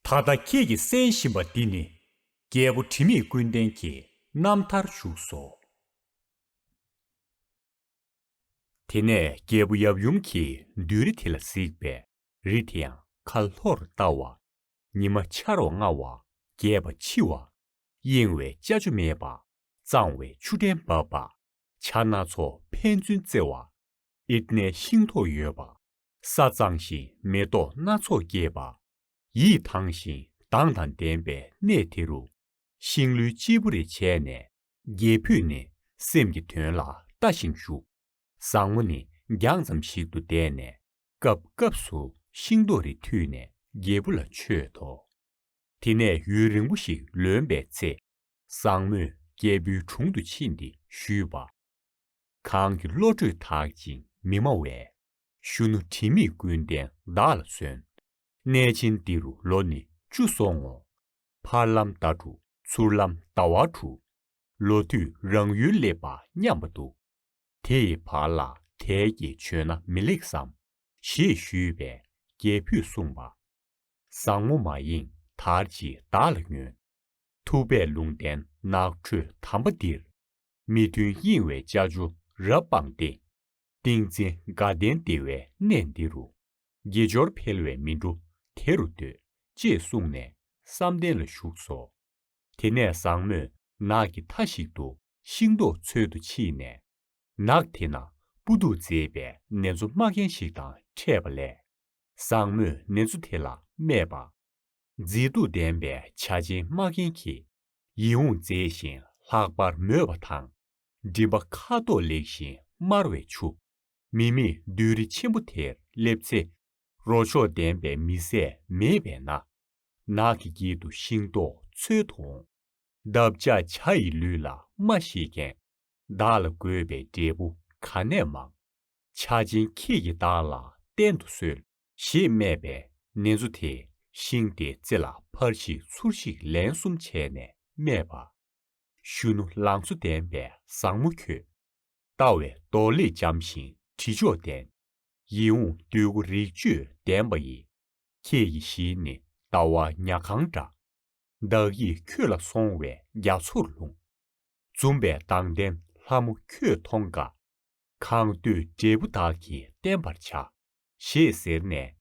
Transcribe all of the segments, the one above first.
ད་ལྟ་ཁྱེད་ཀྱིས་གསན་བཞིན་པ་འདི་ནི། རྒྱལ་པོ་དྲི་མེད་ཀུན་ལྡན་གྱི་རྣམ་ཐར་བཞུགས་སོ། དེ་ནས་རྒྱལ་པོ་ཡབ་ཡུམ་གྱིས་མདུན་རི་དེ་ལ་གཟིགས་པས་རི་དེ་ཡང་ཁ་ལྷོར་ལྟ་བ། ཉི་མ་འཆར་བ་ལྔ་བ་རྒྱས་པ་འཆི་བ། གཡེང་བའི་ལྕགས་ཆུ་མེད་པ། གཙང་བའི་ཆུ་ཕྲན་འབབ་པ། བྱ་སྣ་ཚོགས་ཕན་ཚུན་རྩེ་བ། ཨིར་ནའི་ཤིང་ཐོག་ཡོད་པ། ས་གཙང་ཞིང་མེ་ཏོག་སྣ་ཚོགས་རྒྱས་པ། ཡིད་དྭངས་ཤིང་མདངས་དང་ལྡན་པའི་གནས་དེ་རུ། ཤིང་ལོའི་སྤྱིལ་བུ་རེ་བྱས་ནས། རྒྱལ་ཕུད་ནི་སེམས་ཀྱི་དོན་ལ་ལྟ་ཞིང་བཞུགས། བཟང་མོ་ནི་རྒྱང་ཙམ་ཞིག་ཏུ་བསྡད་ནས། སྐབས་སྐབས་སུ་ཤིང་ཏོག་རེ་འཐུས་ནས་རྒྱལ་བུ་ལ་མཆོད་དོ། དེ་ནས་ཡུན་རིང་པོ་ཞིག་ལོན་པའི་ཚེ། བཟང་མོས་རྒྱལ་བུའི་དྲུང་དུ་ཕྱིན་ཏེ་ཞུས་པ། གང་གི་བློ་གྲོས་དག་ཅིང་མི་སྨྲ་བས། གཞོན་ནུ་དྲི་མེད་ཀུན་ལྡན་བདག་ལ་སོན། གནས་ཆེན་འདི་རུ་ལོ་ནི་བཅུ་སོང་ངོ། བར་ལམ་ཟླ་དྲུག་ཚུར་ལམ་ཟླ་བ་དྲུག། ལོ་དུས་རང་ཡུལ་སླེབས་པ་སྙམ་པ་འདུག། དེ་ཡི་བར་ལ་དལ་གྱིས་བྱོན་ན་མི་ལེགས་སམ། ཞེས་ཞུས་པས་རྒྱལ་བུས་གསུངས་པ། བཟང་མོ་མ་ཡེངས་དར་གྱིས་བདག་ལ་ཉོན། ཐུབ་པས་ལུང་བསྟན་ནགས་ཁྲོད་དམ་པ་འདིར། མི་མཐུན་གཡེང་བའི་ལྕགས་ཆུ་རབ་སྤངས་ཏེ། ཏིང་འཛིན་དགའ་ལྡན་བདེ་བའི་གནས་འདི་རུ། དགེ་སྦྱོར་འཕེལ་བས་མི་འགྲོ་དེ་རུ་སྡོད། ཅེས་གསུངས་ནས་བསམ་གཏན་ལ་ཞུགས་སོ། དེ་ནས་བཟང་མོས་ནགས་ཀྱི་མཐའ་ཞིག་ཏུ་ཤིང་ཏོག་འཚོལ་དུ་ཕྱིན་ནས། ནགས་དེ་ན་སྤུ་སྡུག་མཛེས་པའི་ནེ་ཙོ་སྨྲ་མཁན་ཞིག་དང་འཕྲད་པ་ལས། བཟང་མོས་ནེ་ཙོ་དེ་ལ་སྨྲས་པ། མཛེས་སྡུག་ལྡན་པའི་བྱ་ཆེན་སྨྲ་མཁན་གྱིས་ཡིད་འོང་མཛེས་ཤིང་ལྷག་པར་མོས་པ་དང། སྒྲིབ་པ་ཁ་དོག་ལེགས་ཤིང་དམར་བའི་ཆུ། མི་མེད་བདུད་རི་ཆེན་པོ་དེར་སླེབས་ཚེ། རོ་མཆོག་ལྡན་པའི་མི་བཟད་མེད་པས་ན། ནགས་ཀྱི་དཀྱིལ་དུ་ཤིང་ཏོག་འཚོལ་དུ་འོང། འདབ་ཆགས་བྱ་ཡི་ལུས་ལ་སྨྲ་ཤེས་མཁན། བདག་ལ་དགོས་པའི་འབྲས་བུ་ག་ནས་མང། ཆ་ཆེན་ཁྱེད་ཀྱིས་བདག་ལ་བསྟན་དུ་གསོལ། ཞེས་སྨྲས་པས་ནེ་ཙོ་དེས་ཤིང་དེའི་རྩེ་ལ་ཕར་ཤིག་ཚུར་ཤིག་ལན་གསུམ་བྱས་ནས་སྨྲས་པ། གཞོན་ནུ་ལང་ཚོ་ལྡན་པའི་བཟང་མོ་ཁྱོད། ལྟ་བའི་མདོ་ལས་འཇམ་ཞིང་དྲི་མཆོག་ལྡན། ཡིད་འོང་འདོད་དགུ་རིག་བཅུད་ལྡན་པ་ཡི། ཁྱེད་ཀྱི་ཞལ་ནི་ལྟ་བ་ཉག་གང་འདྲ། བདག་ཡིད་ཁྱོད་ལ་སོང་བས་རྒྱ་མཚོར་ལྷུང། འཛུམ་པའི་མདངས་ལྡན་ལྷ་མོ་ཁྱོད་མཐོང་དགའ། གང་འདོད་འབྲས་བུ་བདག་གིས་བསྟན་པར་བྱ། ཞེས་ཟེར་ནས་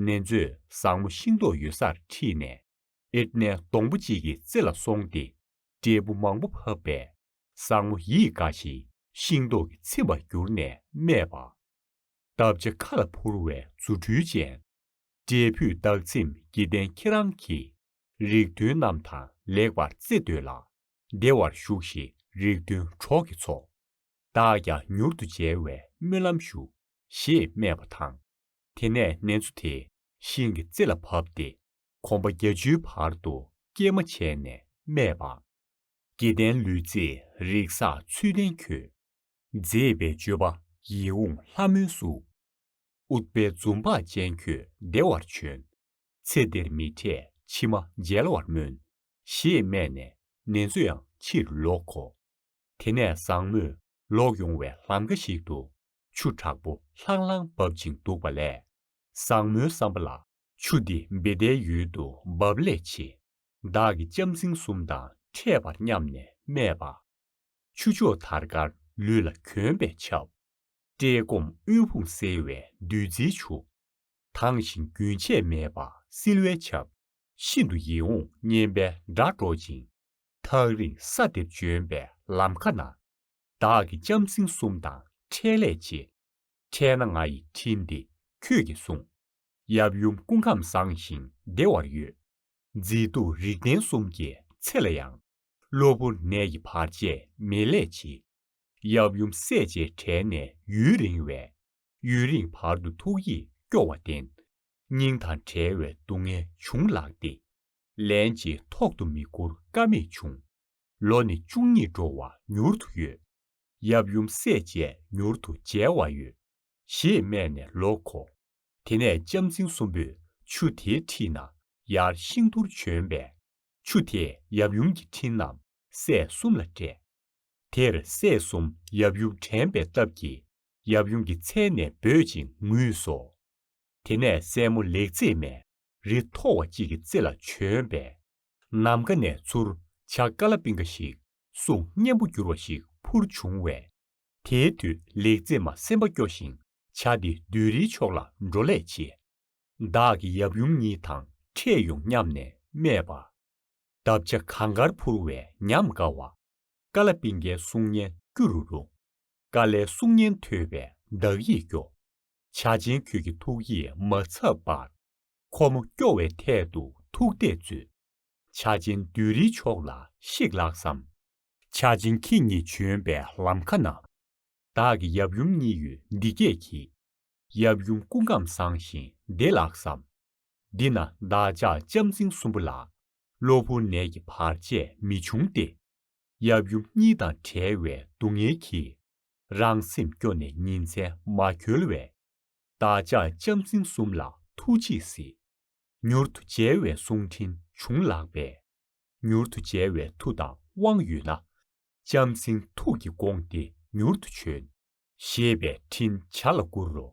ནེ་ཙོས་བཟང་མོ་ཤིང་ཏོག་ཡོད་སར་ཁྲིད་ནས། ཨེར་ཏནའི་སྡོང་པོ་གཅིག་གི་རྩེ་ལ་སོང་སྟེ། འབྲས་བུ་མང་པོ་ཕབ་པས་བཟང་མོ་ཡིད་དགའ་ཞིང་ཤིང་ཏོག་གིས་ཚིམ་པར་གྱུར་ནས་སྨྲས་པ། བདག་བྱ་ཁ་ལ་འཕུར་བའི་རྫུ་འཕྲུལ་ཅན། འབྲས་བུས་བདག་ཚིམ་དགེ་ལྡན་ཁྱེད་རང་གིས། རིགས་མཐུན་རྣམས་དང་ལེགས་པར་རྩེ་འདོད་ལ། བདེ་བར་བཞུགས་ཤིག་རིགས་མཐུན་གྲོགས་ཀྱི་ཚོགས། བདག་ཀྱང་མྱུར་དུ་མཇལ་བའི་སྨོན་ལམ་ཞུ། ཞེས་སྨྲས་པ་དང། དེ་ནས་ནེ་ཙོ་དེས་ཤིང་གི་རྩེ་ལ་བབས་ཏེ་གོམ་པ་བརྒྱད་ཅུའི་བར་དུ་སྐྱེལ་མ་བྱས་ནས་སྨྲས་པ། སྐྱེ་ལྡན་ལུས་རྫས་རིགས་བསགས་ཚུལ་བསྟན་ཁྱོད། མཛེས་པའི་སྤྱོད་པ་ཡིད་འོང་ལྷ་མོའི་གཟུགས། ཨུཏྤལ་འཛུམ་བག་ཅན་ཁྱོད་བདེ་བར་བྱོན། ཚེ་འདིར་མི་འཕྲད་ཕྱི་མ་མཇལ་བར་སྨོན། ཞེས་སྨྲས་ནས་ནེ་ཙོ་ཡང་ཕྱིར་ལོག་གོ། དེ་ནས་བཟང་མོས་ལོག་ཡོང་བའི་ལམ་ཁ་ཞིག་ཏུ། ཆུ་དྲག་པོ་ལྷང་ལྷང་འབབ་ཅིང་འདུག་པ་ལས། བཟང་མོའི་བསམ་པ་ལ་ཆུ་འདི་འབེ་ལྡའི་ཡུལ་དུ་འབབ་ལས་ཆེ། བདག་གིས་ལྕམ་སྲིང་གསུམ་དང་འཕྲད་པར་སྙམ་ནས་སྨྲས་པ། ཆུ་མཆོག་དར་དཀར་ལུས་ལ་གྱོན་པས་ཆབ། བཀྲེས་སྐོམ་དབུལ་ཕོངས་སེལ་བའི་བདུད་རྩིའི་ཆུ། དྭངས་ཤིང་རྒྱུན་ཆད་མེད་པར་བསིལ་བའི་ཆབ། ཤིན་ཏུ་ཡིད་འོང་སྙན་པའི་སྒྲ་སྒྲོག་ཅིང། ཐག་རིང་ས་འདིར་བྱོན་པའི་ལམ་ཁ་ན། བདག་གིས་ལྕམ་སྲིང་གསུམ་དང་འཕྲད་ལས་ཆེ། འཕྲད་ན་ང་ཡི་འཕྲིན་འདི་ཁྱོད་ཀྱིས་སྲུངས། ཡབ་ཡུམ་སྐུ་ཁམས་བཟང་ཞིང་བདེ་བར་ཡོད། མཛེས་སྡུག་རིག་ལྡན་གསུམ་གྱི་ཚེ་ལ་ཡང། གློ་བུར་ནད་ཀྱི་བར་ཆད་མེད་ལས་ཆེ། ཡབ་ཡུམ་སྲས་བཅས་བྲལ་ནས་ཡུན་རིང་བས། ཡུན་རིང་བར་དུ་ཐུགས་ཡིད་སྐྱོ་བ་ལྡན། སྙིང་དང་བྲལ་བའི་སྡུག་བསྔལ་བྱུང་ལགས་ཏེ། ལན་ཅིག་ཐོག་ཏུ་མི་བསྐུར་ཀ་མེད་བྱུང། ལོ་ནི་བཅུ་གཉིས་འགྲོ་བ་མྱུར་དུ་ཡོད། ཡབ་ཡུམ་སྲས་བཅས་མྱུར་དུ་མཇལ་བར་ཡོད། ཞེས་སྨྲས་ནས་ལོ་འཁོར་དེ་ནས་ལྕམ་རྫིང་གསུམ་པོས་ཆུ་དེའི་འཁྲིས་ན་ཡར་ཤིང་དུར་བྱོན་པས། ཆུ་དེས་ཡབ་ཡུམ་གྱི་འཁྲིས་རྣམས་སྲས་གསུམ་ལ་སྤྲད། དེར་སྲས་གསུམ་ཡབ་ཡུམ་དྲན་པའི་སྟབས་ཀྱིས་ཡབ་ཡུམ་གྱི་མཚན་ནས་འབོད་ཅིང་ངུས་སོ། དེ་ནས་སྲས་མོ་ལེགས་མཛེས་མས་རི་མཐོ་བ་གཅིག་གི་རྩེ་ལ་བྱོན་པས། ནམ་མཁའ་ནས་ཚུར་བྱ་ཀ་ལ་པིང་ཀ་ཞིག་གསུང་སྙན་པོ་འགྱུར་བ་ཞིག་འཕུར་བྱུང་བས། དེའི་དུས་ལེགས་མཛེས་མ་སེམས་པ་སྐྱོ་ཞིང་བྱ་སྟེ་བདུད་རིའི་ཕྱོགས་ལ་འགྲོ་ལས་ཆེ། བདག་གི་ཡབ་ཡུམ་གཉིས་དང་ཕྲད་ཡོང་སྙམ་ནས་སྨྲས་པ། འདབ་ཆགས་གང་དགར་འཕུར་བའི་ཉམས་དགའ་བ། ཀ་ལ་པི་ཀའི་གསུང་སྙན་སྐྱུ་རུ་རུ། ཀ་ལའི་གསུང་སྙན་ཐོས་པས་བདག་ཡིད་སྐྱོ། བྱ་ཆེན་ཁྱོད་ཀྱི་ཐུགས་ཡིད་མ་འཚབ་པར། ཁོ་མོ་སྐྱོ་བའི་ཐད་དུ་ཐུགས་གཏད་མཛོད། བྱ་ཆེན་བདུད་རིའི་ཕྱོགས་ལ་གཤེགས་ལགས་སམ། བྱ་ཆེན་ཁྱེད་ཉིད་བྱོན་པའི་ལམ་ཁ་ན། བདག་གི་ཡབ་ཡུམ་གཉིས་ཡོད་འདི་སྐད་གྱིས། ཡབ་ཡུམ་སྐུ་ཁམས་བཟང་ཞིང་བདེ་ལགས་སམ། འདི་ན་བདག་ཅག་ལྕམ་རྫིང་གསུམ་པོ་ལ། གློ་བུར་ནད་ཀྱི་བར་ཆད་མི་འབྱུང་སྟེ། ཡབ་ཡུམ་གཉིས་དང་བྲལ་བའི་སྡུག་བསྔལ་གྱིས། རང་སེམས་སྐྱོ་ནས་ཉིན་མཚན་མ་འཁྱོལ་བས། བདག་ཅག་ལྕམ་རྫིང་གསུམ་ལ་ཐུགས་རྗེས་གཟིགས། མྱུར་དུ་མཇལ་བའི་གསུང་འཕྲིན་བྱུང་ལགས་པས། མྱུར་དུ་མཇལ་བའི་མཐུ་དང་དབང་ཡོད་ན། ལྕམ་སྲིང་ཐུགས་ཀྱིས་དགོངས་ཏེ་མྱུར་དུ་བྱོན། ཞེས་པའི་འཕྲིན་བྱ་ལ་བསྐུར་རོ།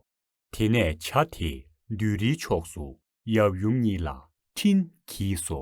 དེ་ནས་བྱ་དེས་མདུན་རིའི་ཕྱོགས་སུ་ཡབ་ཡུམ་གཉིས་ལ་འཕྲིན་གྱིས་སོ།